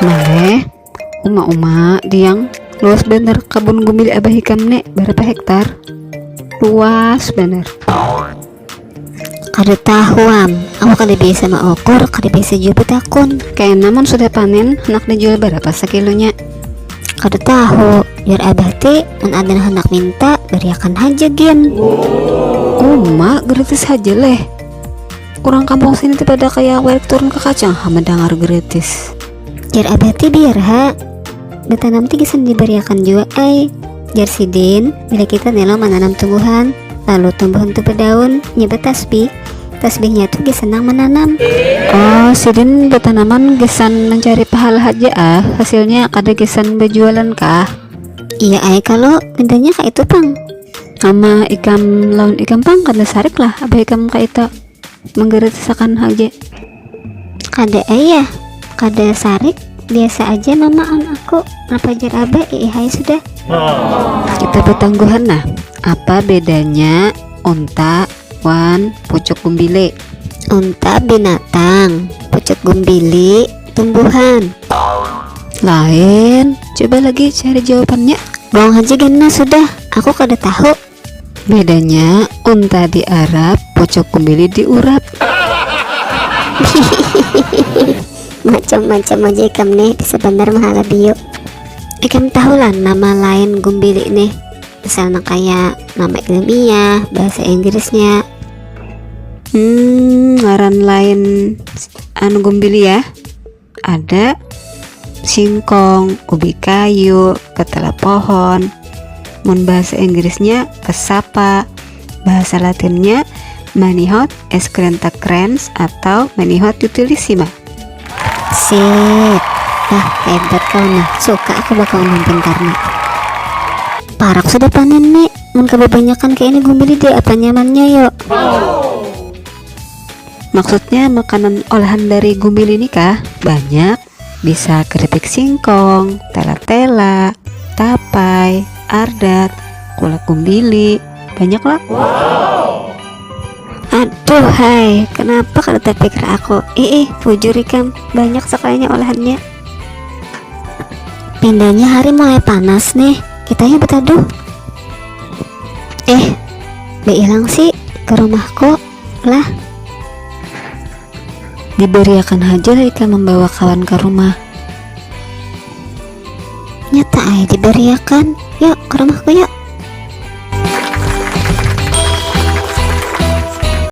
Maleh, uma uma diang luas bener kebun gumbil abah ikam nek berapa hektar luas bener kada tahuam aku kada biasa maukur kada biasa juga betakun kayak namun sudah panen nak dijual berapa sekilonya Kada tahu, jar abah ti, mun aden handak minta, bariakan haja gin. Uma, geritis haja leh. Urang kampung sini ti pada kaya warik turun ka kacang ha mandangar geritis. Jar abah ti, biar ha. Batanam ti gasan dibariakan jua ai, jar sidin. bila kita nih lo menanam tumbuhan lalu tumbuhan tuh berdaun nyebut tasbih tasbihnya tuh dia senang menanam oh sidin bertanaman gesan mencari pahala haja ah hasilnya kada gesan berjualan kah iya ay kalau bedanya kak itu pang sama ikam lawan ikam pang kada sarik lah abah ikam kak itu menggeretisakan haja kada ayah kada sarik biasa aja mama am aku napajar abah iihai sudah kita betangguhan nah apa bedanya unta wan pucuk gumbili unta binatang pucuk gumbili tumbuhan lain coba lagi cari jawabannya buang haja ganna sudah aku kada tahu Bedanya unta di Arab, pocok kumbili di urap. Macam-macam aja ikam nih, bisa bener mahala bio. Ikam tahu lah nama lain gumbili nih, misalnya kayak nama ilmiah, bahasa Inggrisnya. Hmm, ngaran lain anu gumbili ya. ada singkong ubi kayu ketela pohon mun bahasa Inggrisnya cassava bahasa latinnya manihot escrenta crans atau manihot utilissima sip nah hebat kau nah suka aku bakal ngomong pintar nih parak sudah panen nih mun kebanyakan kayak ini gumili deh apa nyamannya yuk Maksudnya makanan olahan dari gumbili ini kah? Banyak, bisa keripik singkong, tela-tela, tapai, ardat, kulak gumbili, banyak lah. Wow. Aduh hai, kenapa kada terpikir aku? Ih, bujur ikam, banyak sekalinya olahannya. Pindahnya hari mulai panas nih, kita yuk betaduh. Eh, hilang sih ke rumahku. Lah, dibariakan haja lah ikam membawa kawan ke rumah. Nyata ay dibariakan, yuk ke rumahku yuk.